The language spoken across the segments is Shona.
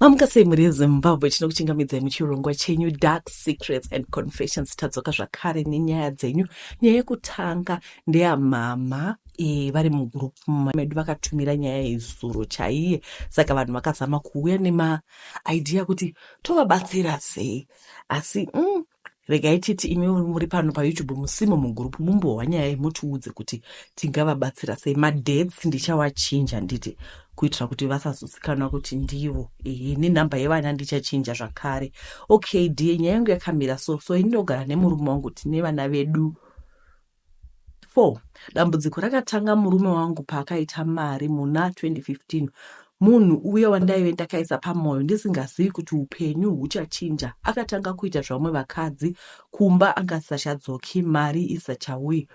mamuka sei mhuri yezimbabwe tinokuchingamidzai muchirongwa chenyu dark secrets and confessions tadzoka zvakare nenyaya dzenyu nyaya yekutanga ndeyamama e, vari mugroup medu vakatumira nyaya yezuro chaiye saka vanhu vakazama kuuya nemaidea kuti tovabatsira sei asi mm, regai titi imi muri pano payoutube musimo mugroup mumbohwa nyaya iyi mutiudze kuti tingavabatsira sei madates ndichawachinja nditi kuitira kuti vasazozikanwa kuti ndivo ehe nenhamba yevana ndichachinja zvakare okay die nyaya yangu yakamira so so ini ndogara nemurume wangu tine vana vedu Four, dambudziko rakatanga murume wangu paakaita mari muna 2015. Munhu uya wandaive ndakaisa pamoyo ndisingazivi kuti upenyu huchachinja akatanga kuita zvavamwe vakadzi kumba anga asachadzoki mari isachauyi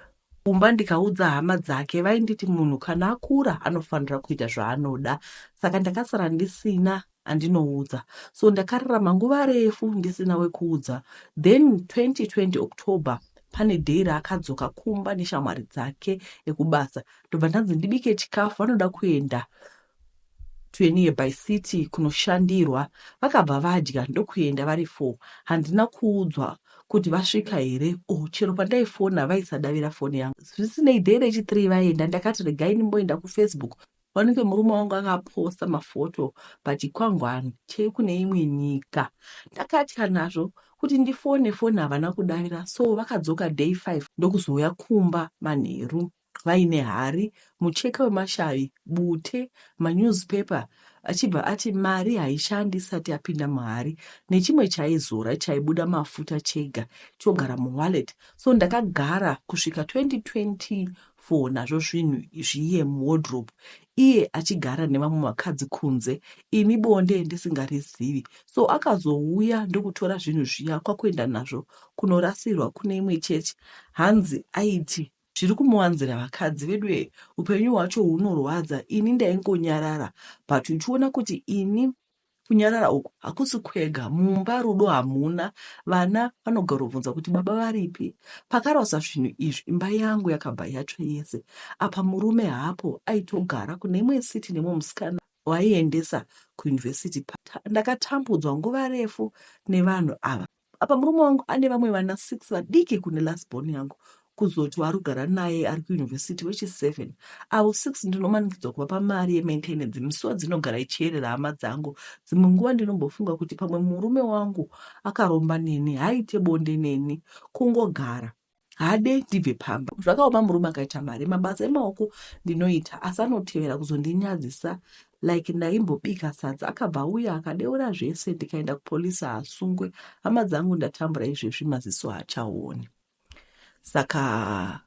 kumba ndikaudza hama dzake vainditi munhu kana akura anofanira kuita zvaanoda saka ndakasara ndisina andinoudza so ndakararama nguva refu ndisina wekuudza then 2020 october pane day raakadzoka kumba neshamwari dzake ekubasa ndobva ndanzi ndibike chikafu vanoda kuenda tuenie by city kunoshandirwa vakabva vadya ndokuenda vari four handina kuudzwa kuti vasvika here o oh, chero pandaifona vaisadavira foni yangu zvisinei day rechithree vaenda ndakati regai ndimboenda kufacebook Wanike murume wangu akaposta mafoto pachikwangwani chekune imwe nyika. Ndakatya nazvo kuti ndifone foni havana kudavira so vakadzoka day 5 ndokuzouya kumba manheru vaine hari, mucheka wemashavi, bute, manewspaper achibva ati mari haishandi isati yapinda muhari nechimwe chaizora chaibuda mafuta chega chogara muwallet so ndakagara kusvika 2024 for nazvo zvinhu zviye muwardrobe iye achigara nevamwe vakadzi kunze ini bonde ndisingarizivi so akazouya ndokutora zvinhu zviya kwakuenda nazvo kunorasirwa kune imwe chechi hanzi aiti zviri kumuwanzira vakadzi veduye upenyu hwacho hunorwadza ini ndaingonyarara but uchiona kuti ini Kunyarara uku hakusi kwega. Mumba rudo hamuna. Vana vanogarobvunza kuti baba varipi. Pakarasa zvinhu izvi imba yangu yakabva yatsva yese. Apa murume haapo aitogara kune imwe city nemumwe musikana waaiendesa kuuniversity. Ndakatambudzwa nguva refu nevanhu ava. apa murume wangu ane vamwe vana six vadiki kune last born yangu kuzoti warugara naye ari kuyunivhesiti wechiseven avo six ndinomanikidzwa kuvapa mari yemaintenance misiwa dzinogara ichiyerera hama dzangu dzimwe nguva ndinombofunga kuti pamwe murume wangu akaromba neni haaite bonde neni kungogara Haade ndibve pamba. Zvakaoma murume akaita mari. Mabasa emaoko ndinoita asi anotevera kuzondinyadzisa like ndaimbobika sadza akabva auya akadeura zvese ndikaenda kupolice haasungwe. Hama dzangu ndatambura izvezvi maziso haachaone. Saka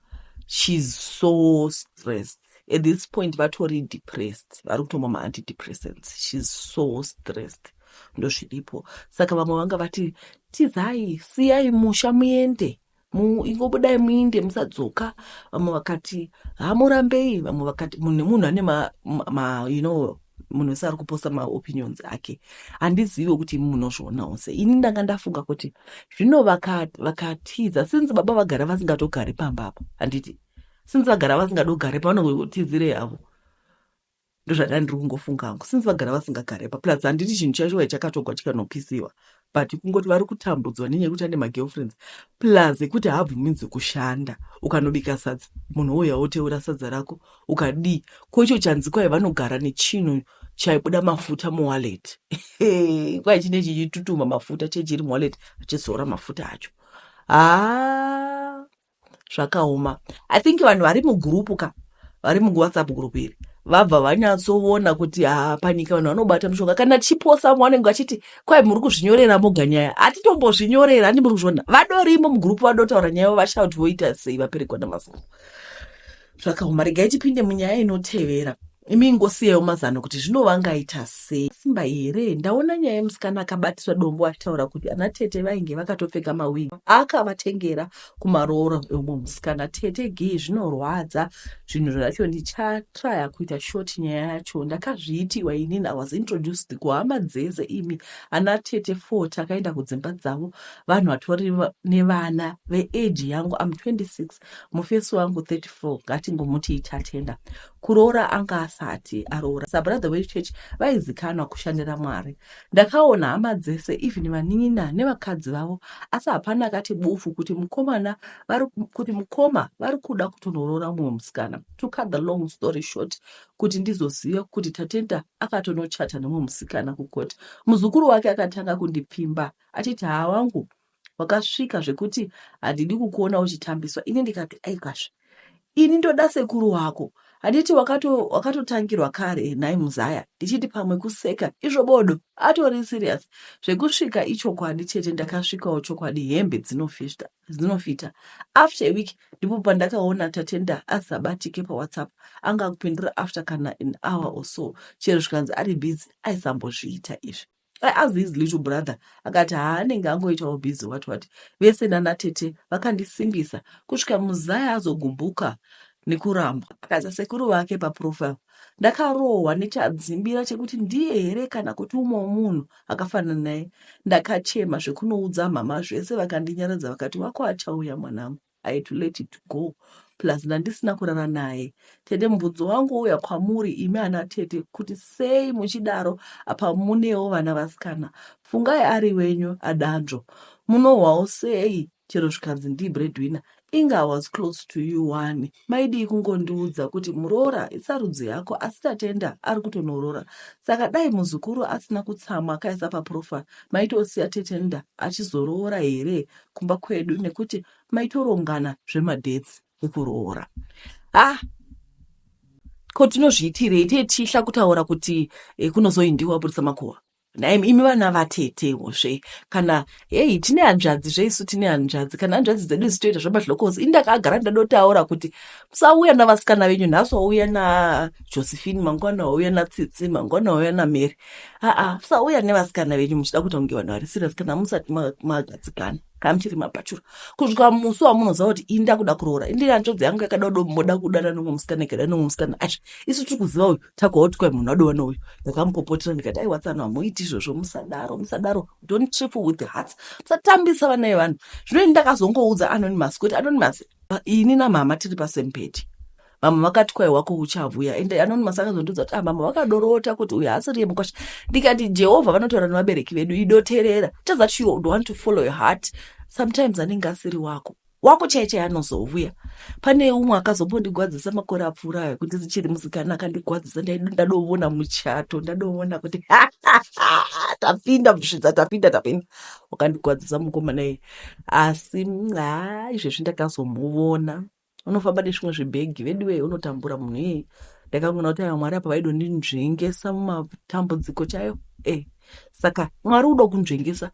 she's so stressed. at this point vatori depressed vari kutomwa maantidepressants shes so stressed ndozviripo saka vamwe vanga vati tizai siyai musha muende ingobudai muinde musadzoka vamwe vakati hamurambei vamwe vakati munhu nemunhu ane ma, ma, ma you know munhu wese ari kuposta maopinions ake handizive kuti imi munozvionawo se ini ndanga ndafunga kuti zvino vakatiza since baba vagara vasingatogari pamba apa handiti since vagara vasingadi kugarepa vanenge vachitizirei havo ndozvadai ndiri kungofunga hangu since vagara vasingagarepa plus handiti chinhu chacho chakatogwa chikanopisiwa but kungoti vari kutambudzwa nenyaya yekuti ane magirlfriends plus ekuti haabvuminzi kushanda ukanobika sadza munhu wouya woteura sadza rako ukadii ko icho chanzikwai vanogara nechinhu chaibuda mafuta muwallet kwai chine chichitutuma mafuta chechiri muwallet achizora mafuta acho haa ah. zvakaoma i think vanhu vari mugurupu ka vari muwhatsapp gurupu iri vabva vanyatsoona kuti haa panyika vanhu vanobata mushonga kana chiposa vanenge vachiti kwai muri kuzvinyorera moga nyaya hatitombozvinyorera handi muri kuzviona vadorimo mugurupu vadotaura nyaya yavo vashauti voita sei vaperekwa namafumo zvakaoma regai tipinde munyaya inotevera imi ingosiyawo mazano kuti zvino vangaita sei simba here ndaona nyaya yemusikana akabatisa dombo achitaura kuti ana tete vainge vakatopfeka mawigi akavatengera kumaroora eumwe musikana tete gii zvinorwadza zvinhu zvacho ndichatraya kuita short nyaya yacho ndakazviitiwa inini i was introduced kuhama dzese imi ana tete fo takaenda kudzimba dzavo vanhu vatori nevana veage yangu am 26 mufesi wangu 34 ngatingomuti ichatenda kuroora anga asati aroora sabrother wechurch vaizikanwa kushandira mwari ndakaona hama dzese even vanin'ina nevakadzi vavo asi hapana akati bufu kuti mukomana vari kuti mukoma vari kuda kutonoroora mumwe musikana to cut the long story short kuti ndizoziva kuti tatenda akatonochata nemumwe musikana kukoti muzukuru wake akatanga kundipfimba achiti haa wangu wakasvika zvekuti handidi kukuona uchitambiswa ini ndikati aikwazve ini ndoda sekuru wako handiti wakatotangirwa wakato kare nhai muzaya ndichiti pamwe kuseka izvo bodo atori serious zvekusvika ichokwadi chete ndakasvikawo chokwadi hembe dzinofita dzinofita after a week ndipo pandakaona tatenda asabatike pawhatsapp anga kupindura after kana an hour or so chero zvikanzi ari busy aisambozviita izvi I asked his little brother akati haa anenge angoitawo busy what what vese nana tete vakandisimbisa kusvika muzaya azogumbuka nekuramba akaisa sekuru vake paprofile ndakarohwa nechadzimbira chekuti ndiye here kana kuti umwe munhu akafanana naye ndakachema zvekunoudza mhama zvese vakandinyaradza vakati wako achauya mwanangu I had to let it go plus ndandisina kurara naye tete mubvunzo wangu wouya kwamuri imi ana tete kuti sei muchidaro apa munewo vana vasikana fungai ari wenyu adanzvo munohwawo sei chero zvikanzi ndii breadwinner inga i was close to you one maidii kungondiudza kuti muroora isarudzi yako asi tatenda ari kutonoroora saka dai muzukuru asina kutsamwa akaisa paprofile maitosiya tetenda achizoroora here kumba kwedu nekuti maitorongana zvemadates ekuroora ah ko tinozviitirei tee tichihla kutaura kuti eh, kunozoindiwa aburitsa makuva naim imi vana vatetewo zve kana heyi tine hanzvadzi zve isu tine hanzvadzi kana hanzvadzi dzedu zitoita zvemadlokosi ini ndakagara ndadotaura kuti musauya navasikana venyu nhasi wauya najosephine mangwana wauya natsitsi mangwana wauya namary haa musauya nevasikana venyu muchida kuita kunge vanhu vari serious kana musati magadzikana kana muchiri mabhachura kusvika musi wamunoziva kuti ini ndakuda kuroora indi hanzvadzi yangu yakada kudo moda kudana nomwe musikana ikada nomwe musikana asha isu tiri kuziva uyu takaoti kwai munhu adova nouyu ndakamupopotera ndikati ai watsano hamuiti izvozvo musadaro musadaro don't trip with the hearts musatambisa vana vevanhu zvino ini ndakazongoudza anonymous kuti anonymous ini namama tiri pasempeti vamwe vakati kwai wako uchavuya and anonymous akazondiudza kuti ah, mama vakadorota kuti uyu haasiri yemukwasha ndikati jehovha vanotaura nevabereki vedu idoterera just that you want to follow your heart sometimes anenge asiri wako wako chai chai anozovuya pane umwe akazombondigwadzisa makore apfuura ayo kuti zichiri musikana akandigwadzisa ndadovona muchato ndadovona kuti tapinda musvidza tapinda tapinda wakandigwadzisa mukomana iye asi haa izvezvi ndakazomuvona unofamba nezvimwe zvibhegi veduwee unotambura munhu ii ndakaona kuti mwari apa vaidondinzvengesa mumatambudziko chayo e saka mwari udo kunzvengesa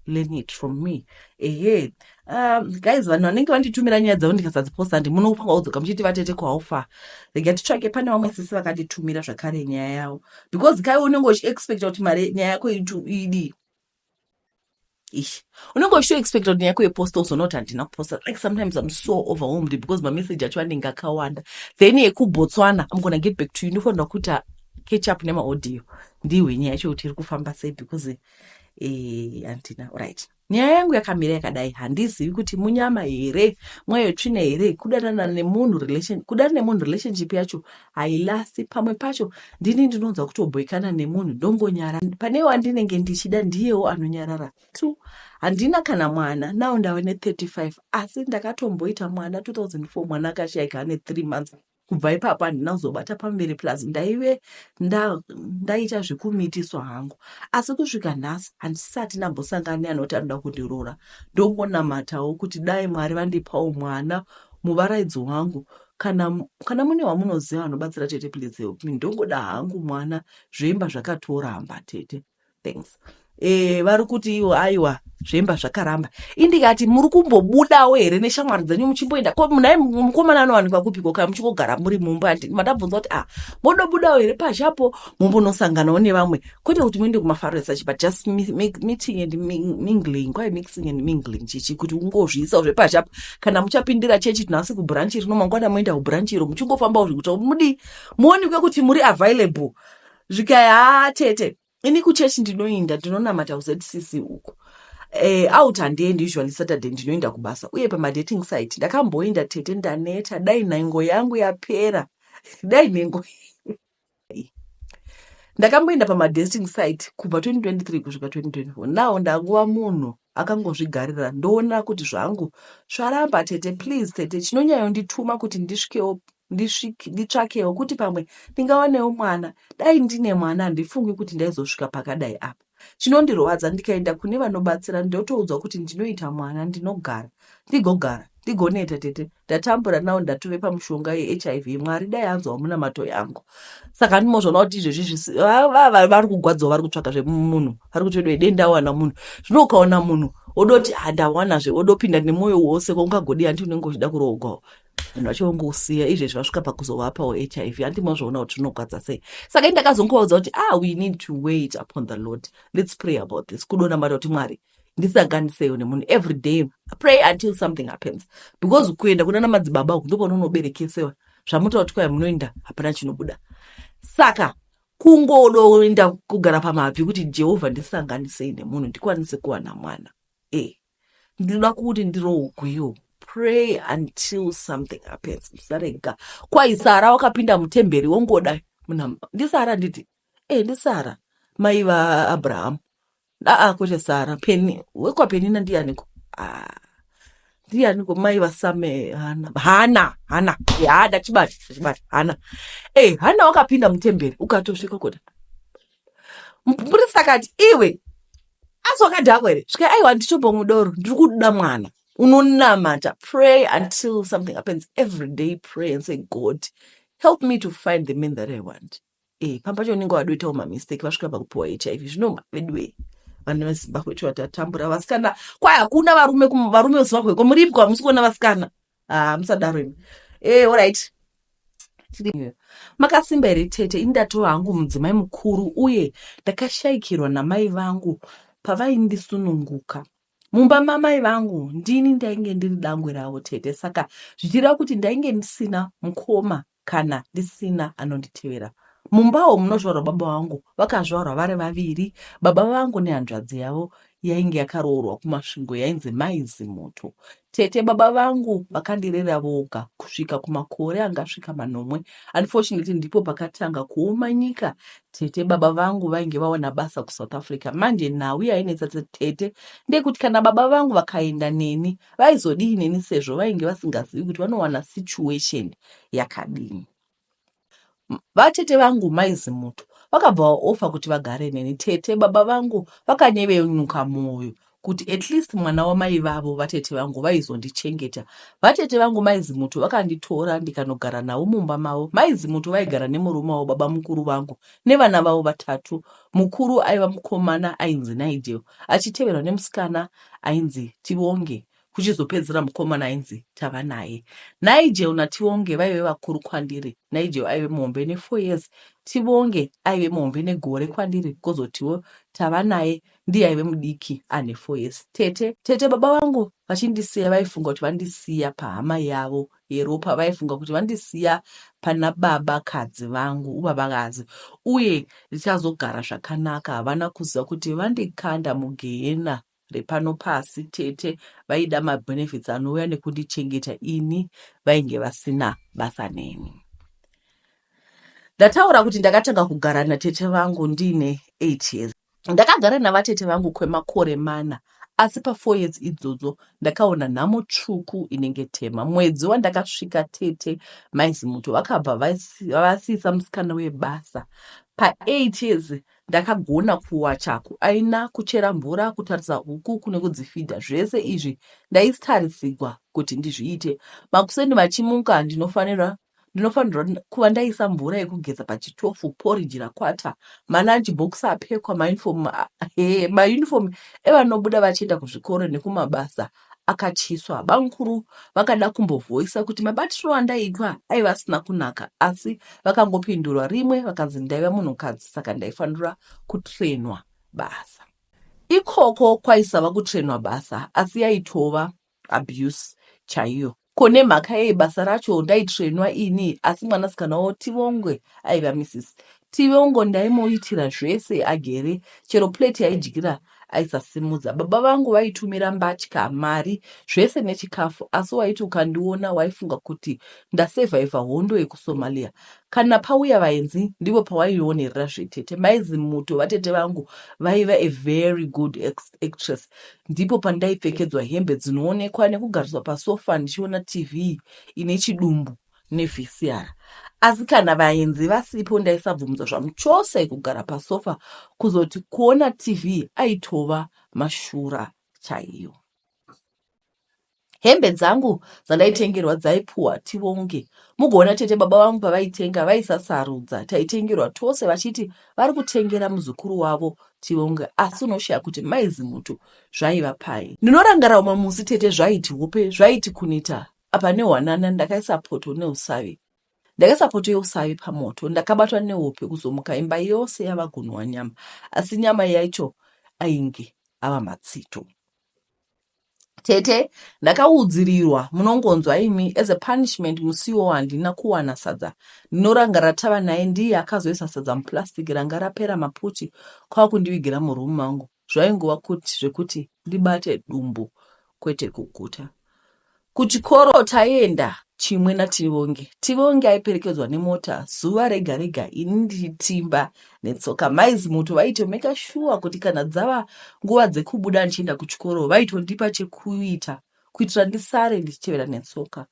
learn it from me ehe um, guys vanhu vanenge vanditumira nyaya dzavo ndikasadziposta ndi munofanga kudzoka muchiti vatete kwaufa rega titsvake pane vamwe sisi vakanditumira zvakare nyaya yavo because kai unenge uchiexpecta kuti mari nyaya yako idii ish unenge uchitoexpecta kuti nyaya kueposta uzonoti handina kuposta like sometimes im so overwhelmed because mamessage acho anenge akawanda then yekubotswana im gona get back to you inofanirwa kuita ah, catch up nemaudio ndihwe nyaya yacho kuti iri kufamba sei because eh, handina eh, right nyaya yangu yakamira yakadai handizivi kuti munyama here mweyo tsvina here kudanana nemunhu relation kudanana nemunhu relationship yacho hailasti pamwe pacho ndini ndinonzwa kutobhoikana nemunhu ndongonyara pane wandinenge ndichida ndiyewo anonyarara two handina kana mwana now ndave ne35 asi ndakatomboita mwana 2004 mwana akashaika ane three months kubva ipapo handina kuzobata pamberi plus ndaive ndaita zvekumitiswa hangu asi kusvika nhasi handisati nambosangana neanoti anoda kundirora ndongonamatawo kuti dai mwari vandipawo mwana muvaraidzo wangu kana kana mune wamunoziva vanobatsira tete please help me ndongoda hangu mwana zvemba zvakatoramba tete thanks eh vari kuti iwo aiwa zvemba zvakaramba indikati muri kumbobudawo here neshamwari dzenyu muchimboenda ko munai mukomana anowanikwa kupiko kana muchingogara muri mumba madabvunza kuti ah modobudawo here pashapo mombonosanganawo nevamwe kwete kuti muende kumafaro esachi but just meeting and mingling kwaye mixing and mingling chichi kuti ungozviisawo zvepashi apo kana muchapindira chechi tinhasi kubhuranchi rino mangwana moenda kubhuranchi iro muchingofambawo zvekuti mudii muonekwe kuti muri available zvikai haa tete ini kuchechi ndinoinda ndinonamata kuzcc uku eh, out handiendi usually saturday ndinoinda kubasa uye pamadating site ndakamboinda tete ndaneta dai nhengo yangu yapera dai nhengo ndakamboenda pamadesting site kubva 2023 kusvika 2024 now ndangova munhu akangozvigarira ndoona kuti zvangu zvaramba tete please tete chinonyayondituma kuti ndisvikewo nditsvakewo kuti pamwe ndingawanewo mwana dai ndine mwana handifungi kuti ndaizosvika pakadai apa Chinondirwadza ndikaenda kune vanobatsira ndotoudzwa kuti ndinoita mwana ndinogara ndigogara ndigoneta tete ndatambura now ndatove pamushonga yeHIV Mwari dai anzwawo munamato yangu saka ndimozvaona kuti izvezvi vari kugwadzawo vari kutsvaga zvemunhu vari kuti vedu dai ndawana munhu zvino ukaona munhu odoti handawanazve odopinda nemwoyo wose kwaungagodi hanti unenge uchida kuroogwawo vanhu vacho vongousiya izvezvi vasvika pakuzovapawo hiv handi mazvoona kuti zvinogwadza sei saka ini ndakazongovaudza kuti ah we need to wait upon the lord let's pray about this kudonamata kuti mwari ndisanganiseyo nemunhu every day pray until something happens because kuenda kuna na madzibaba uku ndopano unoberekesewa zvamutoa kuti kwaya munoenda hapana chinobuda saka kungodoenda kugara pamabvi kuti jehovha ndisanganisei nemunhu ndikwanise kuwana mwana e ndinoda kuti ndiroogwiwo pray until something happens musarega kwai sara wakapinda mutemberi wongoda munamba ndisara nditi e eh, ndisara mai vaabrahamu aa kwete sara peni wekwapenina ndiyaniko ah, ndiyaniko mai vasame hana hana hana eh, hada chibati chibati hana e eh, hana wakapinda mutemberi ukatosvika kuti mupurisa akati iwe asi wakadhakwa here svika aiwa nditobo mudoro ndiri kuda mwana unonamata pray until something happens every day pray and say god help me to find the man that i want e pamba cho unenge wadoitawo mamistake vasvika pakupiwa hiv zvinoma veduwei vana vezimbabwe cho vatatambura vasikana kwai hakuna varume varume vezimbabwe ko muripwa hamusi kuona vasikana ah, musadaro imi eh, orit makasimba here tete ini ndatova hangu mudzimai mukuru uye ndakashaikirwa namai vangu pavaindisununguka mumba mamai vangu ndini ndainge ndiri dangwe ravo tete saka zvichireva kuti ndainge ndisina mukoma kana ndisina anonditevera. Mumbawo munozvarwa baba vangu vakazvarwa vari vaviri, baba vangu nehanzvadzi yavo yainge yakaroorwa kuMasvingo yainzi Mai Zimuto. Tete baba vangu vakandirera voga kusvika kumakore angasvika manomwe. Unfortunately ndipo pakatanga kuoma nyika. Tete baba vangu vainge vawana basa kuSouth Africa. Manje nhau yainetsa tete ndeyekuti kana baba vangu vakaenda neni vaizodii neni sezvo vainge vasingazivi kuti vanowana situation yakadini. Vatete vangu mai Zimuto vakabva vaofa kuti vagare neni. Tete baba vangu vakanyevenuka mwoyo kuti at least mwana wamai vavo vatete vangu vaizondichengeta. Vatete vangu mai Zimuto vakanditora ndikanogara navo mumba mavo. Mai Zimuto vaigara nemurume wavo baba mukuru vangu nevana vavo vatatu. Mukuru aiva mukomana ainzi Nigel achiteverwa nemusikana ainzi Tivonge kuchizopedzisira mukomana ainzi tava naye nigel nativonge vaive vakuru kwandiri nigel aive muhombe nefour years tivonge aive muhombe negore kwandiri kozotiwo tava naye ndiye aive mudiki ane four years tete tete baba vangu vachindisiya vaifunga kuti vandisiya pahama yavo yeropa vaifunga kuti vandisiya pana baba kadzi vangu ubaba kadzi uye ndichazogara zvakanaka havana kuziva kuti vandikanda mugehena repano pasi tete vaida mabenefits anouya nekundichengeta ini vainge vasina basa neni ndataura kuti ndakatanga kugara natete vangu ndiine 8 years ndakagara navatete vangu kwemakore mana asi pafour years idzodzo ndakaona nhamo tsvuku inenge tema mwedzi wandakasvika tete maizimuto vakabva vasiisa musikana webasa paeight years Ndakagona kuwa chaku aina, kuchera mvura, kutarisa huku kune kudzifidha zvese izvi ndaistarisigwa kuti ndizviite. Makuseni vachimuka ndinofanira ndinofanirwa kuva ndaisa mvura yekugeza pachitofu poriji rakwata malunch box apfekwa mauniform he mauniform evanobuda vachienda kuzvikoro nekumabasa akatyiswa. Bamukuru vakada kumbovoisa kuti mabatirwo andaitwa aiva asina kunaka asi vakangopindurwa rimwe vakanzi ndaiva munhukadzi saka ndaifanira kutrenwa basa. Ikoko kwaisava kutrenwa basa asi yaitova abuse chaiyo. Ko nemhaka yei basa racho ndaitsvenwa ini asi mwanasikana wavo Tivongwe aiva Mrs. Tivongo ndaimuitira zvese agere chero plate yaidyira aisasimudza. Baba vangu vaitumira mbatya, mari, zvese nechikafu asi waiti ukandiona waifunga kuti ndasevhaivha hondo yekuSomalia. Kana pauya vaenzi ndivo pawaionerera zvetete. Mai Zimuto vatete vangu vaiva a very good ex- actress. Ndipo pandaipfekedzwa hembe dzinoonekwa nekugariswa pasofa ndichiona TV ine chidumbu neVCR. Asi kana vaenzi vasipo ndaisabvumidza zvamuchose kugara pasofa kuzoti kuona TV aitova mashura chaiyo. Hembe dzangu dzandaitengerwa dzaipuhwa tivonge. Mugoona tete baba vangu pavaitenga vaisasarudza. Taitengerwa tose vachiti vari kutengera muzukuru wavo tivonge asi unoshaya kuti mai Zimutu zvaiva pai. Ndinorangarira umwe musi tete zvaiti hope zvaiti kuneta apa nehwanana ndakaisa poto neusavi. Ndakaisa poto yeusavi pamoto ndakabatwa nehope kuzomuka imba yose yava gunhwa nyama asi nyama yacho ainge ava matsito. Tete ndakaudzirirwa munongonzwa imi as a punishment musiwo handina kuwana sadza ndinoranga ratava naye ndiye akazoisa sadza muplastic ranga rapera maputi kwakundivigira muroom mangu zvaingova kuti zvekuti ndibate dumbu kwete kuguta kuchikoro taienda chimwe nativonge tivonge aiperekedzwa nemota zuva rega rega ini ndiri timba netsoka mai zimuto vaitomeka shuwa kuti kana dzava nguva dzekubuda ndichienda kuchikoro vaitondipa chekuita kuitira ndisare ndichitevera netsoka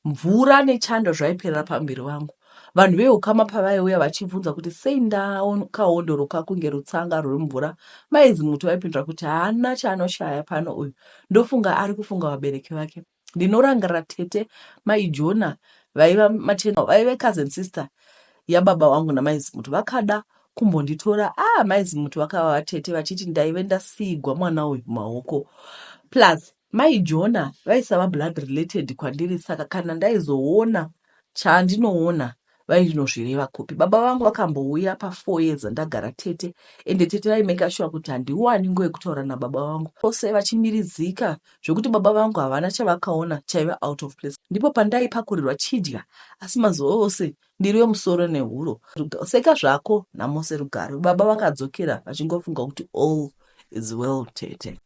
mvura nechando zvaiperera pamuviri vangu vanhu veukama pavaiuya vachibvunza kuti sei ndakaondoroka kunge rutsanga ruri mvura maizi muti vaipindura kuti haana chaanoshaya pano uyu ndofunga ari kufunga vabereki vake Ndinorangarira tete mai Jona vaiva maternal vaive cousin sister yababa wangu namai Zimuti vakada kumbonditora ah mai Zimuti vakava vatete vachiti ndaive ndasiigwa mwana uyu mumaoko plus mai Jona vaisava blood related kwandiri saka kana ndaizoona chandinoona vainozvireva kupi baba vangu vakambouya pafour years andagara tete ende tete vaimeka shuwa kuti handiwani nguva yekutaura nababa vangu ose vachimiridzika zvekuti baba vangu havana chavakaona chaive out of place ndipo pandaipakurirwa chidya asi mazuva ose ndiri wemusoro nehuro seka zvako namose rugare baba vakadzokera vachingofunga kuti all is well tete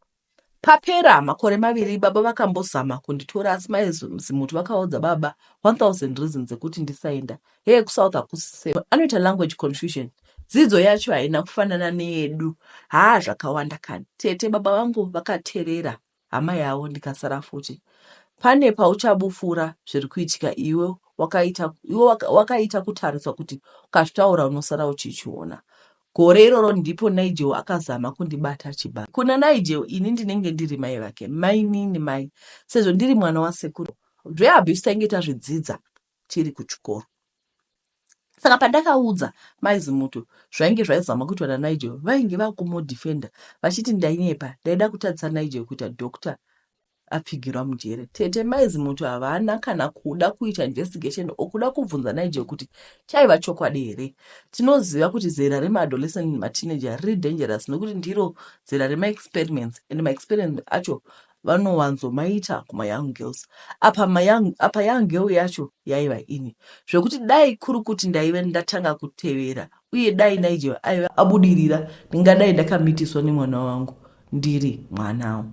Papera makore maviri baba vakambozama kunditora asi mai Zimuti vakaudza baba 1000 reasons dzekuti ndisaenda. Hee kuSouth hakusi safe. Anoita language confusion. Dzidzo yacho haina kufanana neyedu. Haa zvakawanda kani. Tete baba vangu vakaterera hama yavo ndikasara futi. Pane pauchabufura zviri kuitika iwe wakaita iwe wakaita kutariswa kuti ukazvitaura unosara uchichiona. Gore iroro ndipo Nigel akazama kundibata achibata. Kuna Nigel ini ndinenge ndiri mai vake, mainini mai, sezvo ndiri mwana wasekuru. Zveabuse tainge tazvidzidza tiri kuchikoro. Saka pandakaudza mai Zimuto zvainge zvaizama kuitwa naNigel, vainge vakumodefender vachiti ndainyepa, ndaida kutadzisa Nigel kuita doctor apfigirwa mujere tete mai zimuti havana kana kuda kuita investigation or kuda kubvunza naije kuti chaiva chokwadi here tinoziva kuti zera remaadolescent nematineja riri dangerous nekuti ndiro zera remaexperiments and maexperiments acho vanowanzomaita kumayoung girls apa mayoung apa young girl yacho yaiva ini zvekuti dai kuri kuti ndaive ndatanga kutevera uye dai naije aive abudirira ndingadai ndakamitiswa nemwana wangu ndiri mwanawo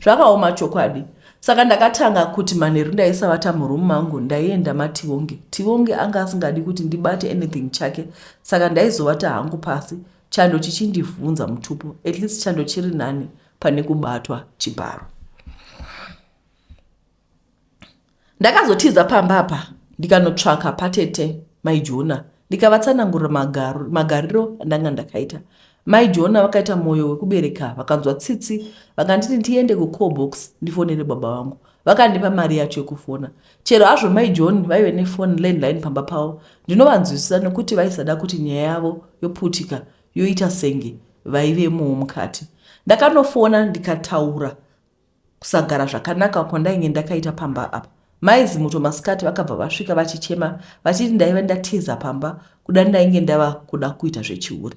zvakaoma chokwadi saka ndakatanga kuti manheru ndaisavata muroom mangu ndaienda mativonge tivonge anga asingadi kuti ndibate anything chake saka ndaizovata hangu pasi chando chichindivhunza mutupo at least chando chiri nani pane kubatwa chibharo ndakazotiza pamba apa ndikanotsvaka patete maijona ndikavatsanangurira magariro andanga ndakaita mai jona vakaita mwoyo wekubereka vakanzwa tsitsi vakanditi ndiende kucall box ndifonere baba vangu vakandipa mari yacho yekufona chero hazvo mai john vaive nefoni landline pamba pavo ndinovanzwisisa nekuti vaisada kuti nyaya yavo yoputika yoita senge vaivemowo mukati ndakanofona ndikataura Kusagara zvakanaka kwandainge ndakaita pamba apa. Mai Zimuto masikati vakabva vasvika vachichema vachiti ndaive ndatiza pamba kuda ndainge ndava kuda kuita zvechihure.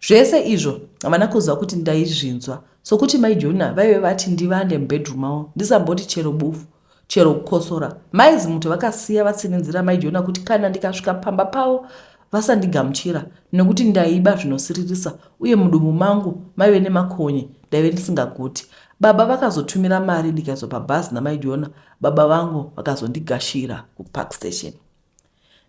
Zvese izvo havana kuziva kuti ndaizvinzwa sokuti mai Jona vaive vati ndivande mubedroom mavo ndisamboti chero bufu. chero kukosora. Mai Zimuti vakasiya vatsinhinzira mai Jona kuti kana ndikasvika pamba pavo vasandigamuchira nekuti ndaiba zvinosiririsa uye mudumbu mangu maive nemakonye ndaive ndisingaguti. Baba vakazotumira mari ndikaiswa pabhazi namai Jona, baba vangu vakazondigashira kupark station.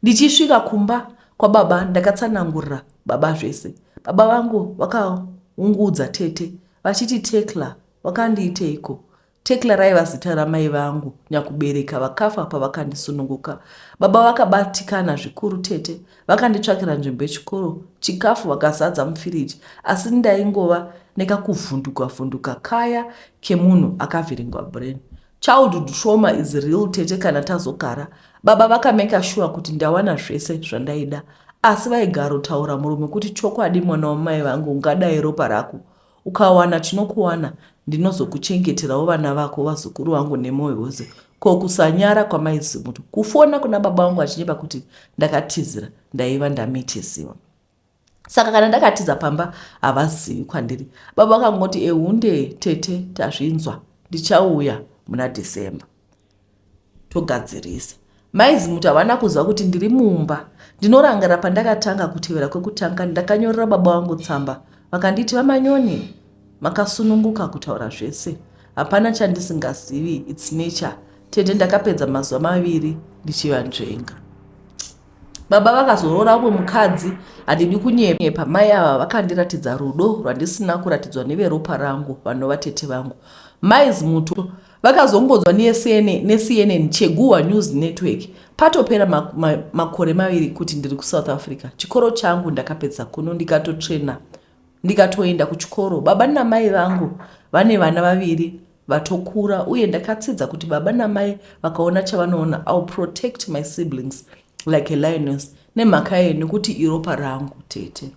Ndichisvika kumba kwababa ndakatsanangurira baba zvese. Baba vangu vakaungudza tete vachiti Tekla wakandiiteiko? Tecla raiva zita ramai vangu nyakubereka vakafa pavakandisununguka. Baba vakabatikana zvikuru tete vakanditsvakira nzvimbo yechikoro, chikafu vakazadza mufiriji asi ndaingova nekakuvhunduka vhunduka kaya kemunhu akavhiringwa brain. Childhood trauma is real tete kana tazogara. Baba vakameka shuwa kuti ndawana zvese zvandaida asi vaigarotaura murume kuti chokwadi mwana wamai vangu ungadai ropa rako Ukawana chinokuwana ndinozokuchengeterawo vana vako vazukuru vangu nemoyo wose ko kusanyara kwamaizimuto kufona kuna baba vangu vachinyepa kuti ndakatizira ndaiva ndamitisiwa saka kana ndakatiza pamba havazivi kwandiri baba vakangoti ehunde tete tazvinzwa ndichauya muna december togadzirisa. Mai Zimuti havana kuziva kuti ndiri mumba. Ndinorangira pandakatanga kutevera kwekutanga ndakanyorera baba vangu tsamba vakanditi vamanyoni makasununguka kutaura zvese hapana chandisingazivi its nature tete ndakapedza mazuva maviri ndichivanzvenga baba vakazoroora umwe mukadzi handidi kunyepa mai ava vakandiratidza rudo rwandisina kuratidzwa neveropa rangu vanova tete vangu mai zimuto Vakazongodzwa neCNN, neCNN Cheguhwa News Network patopera ma, ma, makore maviri kuti ndiri kuSouth Africa. Chikoro changu ndakapedza kuno ndikatotrena ndikatoenda kuchikoro. Baba namai vangu vane vana vaviri vatokura uye ndakatsidza kuti baba namai vakaona chavanoona ill protect my siblings like a lioness nemhaka yeye nekuti iropa rangu tete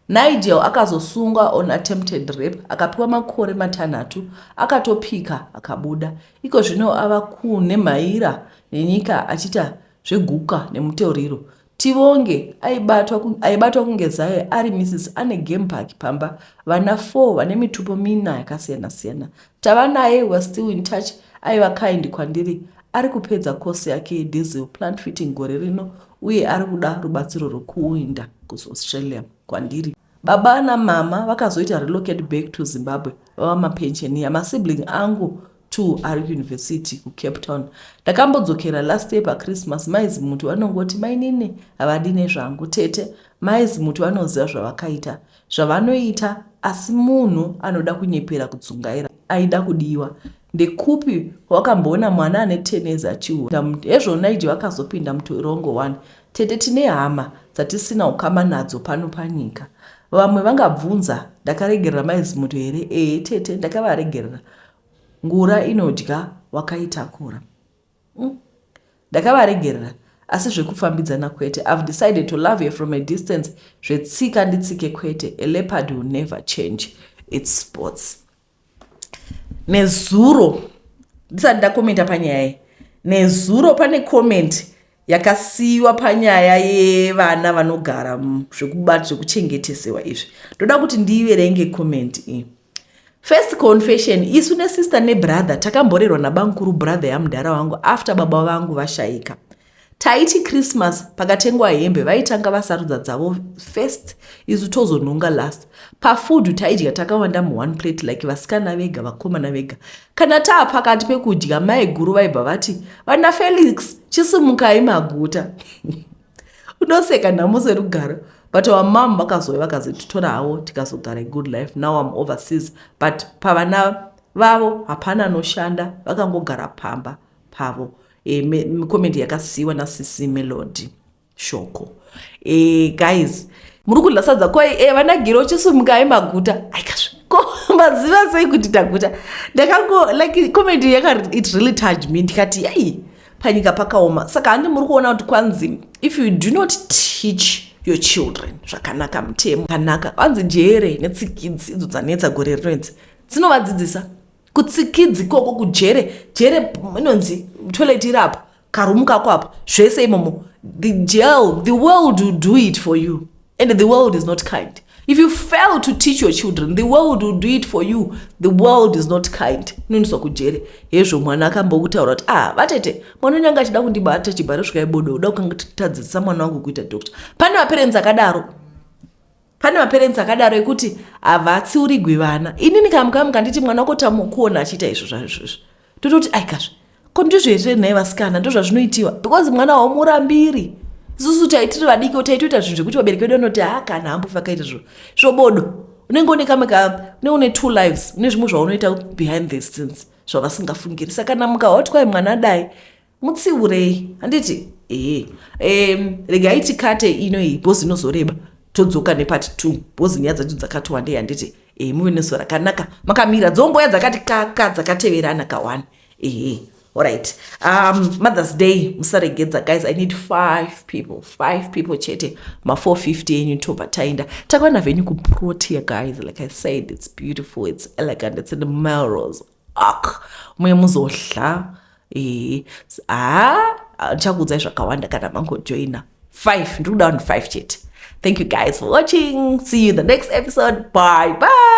Nigel akazosungwa on attempted rape akapiwa makore matanhatu akatopika akabuda. Iko zvino ava kunhemhaira nenyika achiita zveguka nemutoriro. Tivonge aibatwa, aibatwa kunge zaye ari Mrs Ane Game Park pamba vana 4 vane mitupo mina yakasiyana-siyana Tava naye was still in touch aiva kind kwandiri ari kupedza course yake yediesel plant fitting gore rino uye ari kuda rubatsiro rwekuinda kuaustralia kwandiri baba namama vakazoita relocate back to zimbabwe vava mapensheniya masibling angu two ari kuuniversity kucape town ndakambodzokera last year pachristmas maizi muti vanongoti mainini havadi nezvangu tete maizi muti vanoziva zvavakaita zvavanoita asi munhu anoda kunyepera kudzungaira aida kudiwa ndekupi wakamboona mwana ane tenezi achiura hezvo naiji vakazopinda mutorongo wani tete tine hama dzatisina ukama nadzo pano panyika vamwe vangabvunza ndakaregerera maizimuto here ee tete ndakavaregerera ngura inodya wakaitakura Umm ndakavaregerera asi zvekufambidzana kwete I've decided to love her from a distance zvetsika nditsike kwete a leopard will never change its spots nezuro ndisati ndakomenta panyaya iyi nezuro pane komenti yakasiyiwa panyaya yevana vanogara zvekuchengetesewa izvi ndoda kuti ndiiverenge komenti iyi First confession, isu ne sister ne brother takamborerwa na bamkuru brother ya mudhara wangu after baba vangu vashaika. Taiti Christmas pakatengwa hembe vaitanga vasarudza dzavo first isu tozonhonga last. Pa food taidya takawanda mu one plate like vasikana vega vakomana vega. Kana taa pakati pekudya mai guru vaibva vati vana Felix chisimukai maguta. unoseka nhamo serugaro but our mom vakazouya vakazotitora havo tikazogara good life now im overseas but pavana vavo hapana anoshanda vakangogara pamba pavo e, comment yakasiiwa nasisi melody shoko e, guys muri kudla sadza ko e, eh, vanagiro chisumukai maguta aikasvi ko maziva sei kuti taguta ndakango like comment yaka it really touch me ndikati yai panyika pakaoma saka handi muri kuona kuti kwanzi if you do not teach your children zvakanaka mutemo kanaka kwanzi jere netsikidzi idzo dzanetsa gore rino idzi dzinovadzidzisa kutsikidzi koko kujere jere inonzi toilet iri apo karumu kako apo zvese imomo the jail the world will do it for you and the world is not kind if you fail to teach your children the world will do it for you the world is not kind inoendiswa kujere hezvo mwana akambokutaura kuti ah vatete mwana wenyu anga achida kundibata chibharo svika ibodo uda kukangatitatadzisa mwana wangu kuita doctor pane maperenzi akadaro pane maperenzi akadaro ekuti havatsiurigwi vana inini kamukamu kanditi mwana wako tamukuona achiita izvo zvaizvozvo tototi aikazve ko ndizvo here nhai vasikana ndozvazvinoitiwa because mwana haumurambiri isusu taitiri vadiki taitoita zvinhu zvekuti vabereki vedu vanoti ha kana hambo vakaita zvo svobodo unenge une kamwe ka unenge une two lives une zvimwe zvaunoita behind the scenes zvavasingafungiri saka namuka hotwai mwana dai Mutsiurei handiti? Ehe. Um, regai tikate ino iyi bhozi inozoreba todzoka nepati two bhozi nyaya dzacho dzakati wandei handiti? Ehe, muve nezuva rakanaka makamira dzongoya dzakati kaka dzakateverana kawani. Ehe. All right. Um, Mother's Day, musaregedza guys. I need five people. Five people chete. Ma 450 yenyu toba tainda. Takwana venyu kuprotea guys. Like I said, it's beautiful, it's elegant, it's in the Melrose. ak muye muzohla ee haa ndichakuudzai zvakawanda kana mangojoina five ndiri kuda vanhu five chete thank you guys for watching see you in the next episode bye bye